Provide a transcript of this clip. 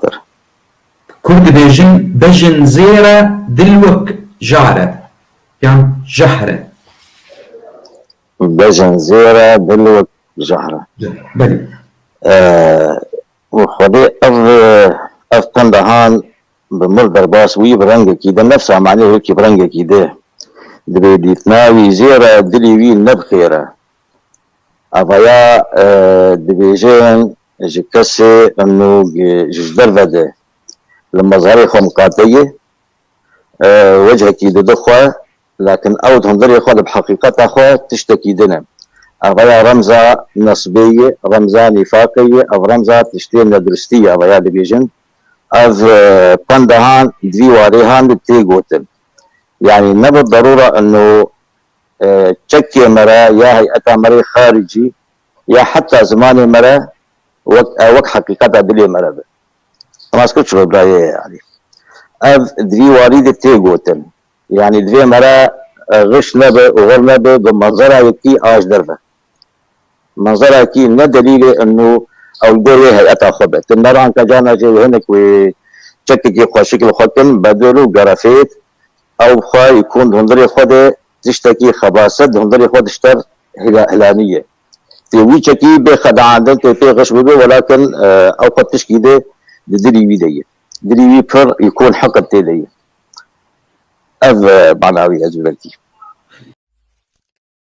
kir. Kurd dibêjin bejin zêr e dil wek jar e yan jahr e? Bejin zêr e dil wek jahr e. Belê. Û xwedê ev ev penda han bi mil derbas wî bi rengekî de nefsa manê wekî bi rengekî dê. Dibê dîtina wî zêr e dilê wî ne bi xêr e. Avaya dibêjin ji kesê nûg ji derve de li mazarê xwe miqate ye, wechekî dide xwe, lakin ew di hundirê xwe de bi heqîqeta xwe tiştekî din e. Avaya remza nasibê ye, remza nîfaqê ye, ev remza tiştê neduristî ye. Avaya dibêjin ev pendehan di vî warê han de tê gotin. Yanî ne bi derûra ino çekê me re ya heyeta me rê xaricî ya heta zimanê me re wek ew wek heqîqeta dilê me re be. Nas kir çiqas birayê ye yanî. Ev di vî warî de tê gotin. Yanî divê me re xiş nebe û xir nebe bi manzera yekî a ji der ve. Manzara kî ne delîlê û ewlgor yê heyeta xwe be. Ti mer anka cana jê hinek wê çekekî xweşik li xwe kin, bedur û gerefêt ew bi xwe yê kûn di hundirê xwe de tiştekî xebaset di hundirê xwe dişter hilanîye. Tê wî çekî bê xedeandin tê pê xiş bibe welakin ew xwe tişkî de di dilî wî de ye. Dilî wî pir yê kûn hiqd tê de ye. Ev mana wî ye ji ber kî.